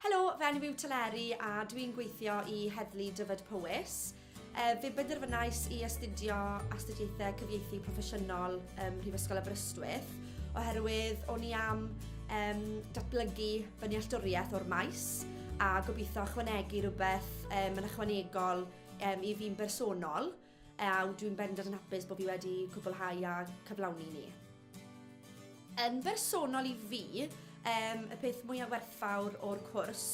Helo, fy enw yw Teleri a dwi'n gweithio i Heddlu Dyfed-Powys. E, fe benderfynais i astudio astudiaethau cyfieithu proffesiynol ym Mhrifysgol Aberystwyth oherwydd o'n i am um, datblygu fy nealltwriaeth o'r maes a gobeithio ychwanegu rhywbeth um, yn ychwanegol um, i fi'n bersonol. Ew, dwi'n bendant yn hapus bod fi wedi cwblhau a cyflawni ni. Yn bersonol i fi, y peth mwyaf werthfawr o'r cwrs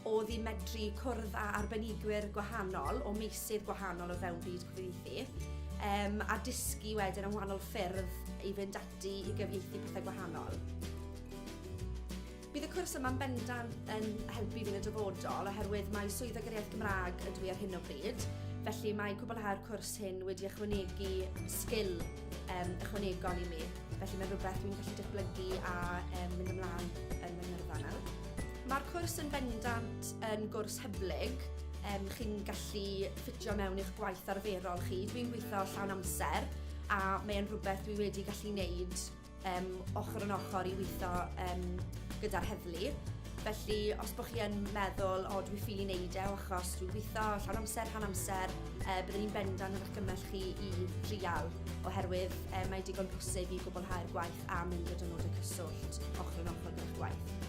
oedd i medru cwrdd â arbenigwyr gwahanol o meysydd gwahanol o fewn byd cyfieithu a dysgu wedyn am wahanol ffyrdd i fynd ati i gyfieithu pethau gwahanol. Bydd y cwrs yma'n bendant yn helpu fi yn y dyfodol oherwydd mae Swyddog yr Iaith Gymraeg ydw i ar hyn o bryd, felly mae cwblhau'r cwrs hyn wedi ychwanegu sgil um, ychwanegol i mi, felly mae'n rhywbeth dwi'n gallu datblygu a um, mynd ymlaen yn fy ngyrfa nawr. Mae'r cwrs yn bendant yn gwrs hyblyg, um, chi'n gallu ffitio mewn i'ch gwaith arferol chi. Dwi'n gweithio llawn amser a mae'n rhywbeth dwi wedi gallu wneud um, ochr yn ochr i weithio um, gyda'r heddlu. Felly, os bod chi yn meddwl, o, dwi'n ffili wneud e, achos dwi'n gweithio llawn amser, rhan amser, e, byddwn i'n bendant yn argymell chi i drial, oherwydd e, mae digon posib i gwblhau'r gwaith a mynd o dynod y cyswllt ochr yn ochr gyda'r gwaith.